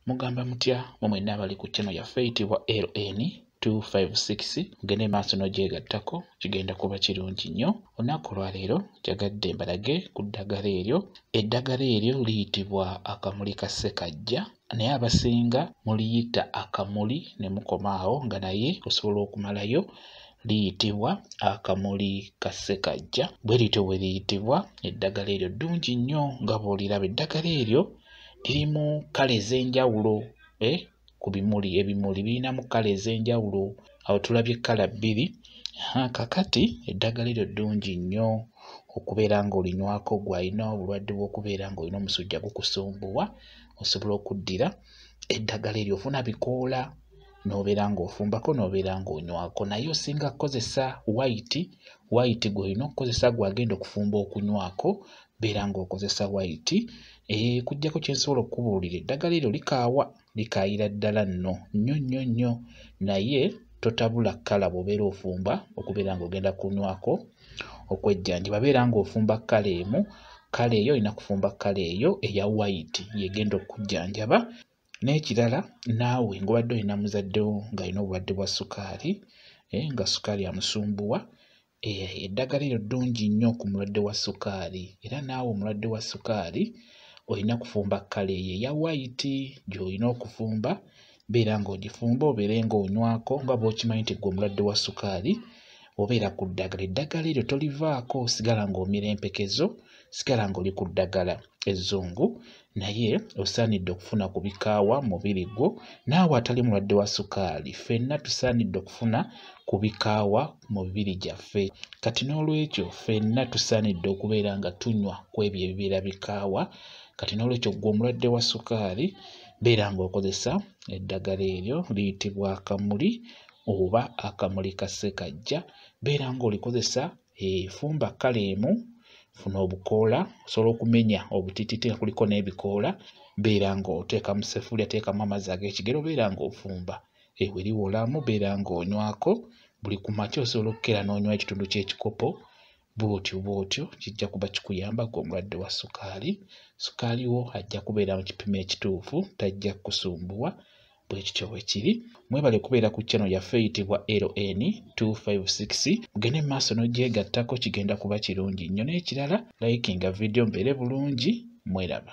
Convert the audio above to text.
mugamba mutya mwe mwenna abali ku channel yaffe eyitibwa ln 256 mugende maaso n'ogyegattako kigenda kuba kirungi nnyo olunaku olwaleero kyagadde mbalage ku ddagala eryo eddagala eryo liyitibwa akamuli ka ssekajja naye abasinga muliyita akamuli ne mukoma awo nga naye osobola okumalayo liyitibwa akamuli ka ssekajja bwe lityo bwe liyitibwa eddagala eryo ddungi nnyo nga bw'oliraba eddagala eryo lirimu kkala ez'enjawulo eh, ku bimuli ebimuli birinamu kkala ez'enjawulo awo tulabye kkala bbiri kakati eddagala eryo ddungi nnyo okubeera ng'olinywako gwe alina obulwadde bw'okubeera ng'olina omusujja gukusumbuwa osobola okuddira eddagala eryo ofuna bikoola n'obeera ng'ofumbako n'obeera ng'onywako naye osinga kukozesa wayiti wayiti gw'olina okukozesa gw'agenda okufumba okunywako beera ng'okozesa wayiti eh, kujjako kyensobola okukubuulira eddagala eryo likaawa likaayira ddala nno nnyo nnyo nnyo naye totabula kkala bw'obeera ofumba okubeera ng'ogenda kunywako okwejjanjaba beera ng'ofumba kkala emu kkala eyo olina kufumba kkala eyo eya wayiti yegenda okukujjanjaba n'ekirala naawe ng'obadde olina muzaddewo ng'alina obulwadde bwa sukaali eh, nga sukaali amusumbuwa Eh, eddagala eryo ddungi nnyo ku mulwadde wa sukaali era naawe omulwadde wa sukaali olina kufumba kkala eyo eya wayiti gy'olina okufumba beera ng'ogifumba obeere ng'onywako nga bw'okimanyi nti gwe omulwadde wa sukaali obeera ku ddagala eddagala eryo tolivaako osigala ng'omira empekezo sigala ng'oli ku ddagala ezzungu naye osaanidde okufuna ku bikaawa mubiri gwo naawe atali mulwadde wa sukaali ffenna tusaanidde okufuna ku bikaawa mu mibiri gyaffe kati n'olwekyo ffenna tusaanidde okubeera nga tunywa ku ebyo ebibeera bikaawa kati n'olwekyo ggwe omulwadde wa sukaali beera ng'okozesa eddagala eryo liyitibwa akamuli oba akamuli ka ssekajja beera ng'olikozesa efumba eh, kkala emu funa obukoola osobola okumenya obutitite kuliko n'ebikoola beera ng'oteeka mu sefulya teekamu amazzi ag'ekigero beera ng'ofumba ewe liwolamu beera ng'onywako buli ku makya osobola okukera n'onywa ekitundu ky'ekikopo bwotyo bwotyo kijja kuba kikuyamba ku omulwadde wa sukaali sukaali wo ajja kubeera mu kipimo ekituufu tajja kukusumbuwa bwe kityo bwe kiri mwebale kubeera ku chano yaffe eyitibwa ln 256 mugende mu maaso n'ogyegattako kigenda kuba kirungi nnyo n'ekirala layikinga vidiyo mbeere bulungi mweraba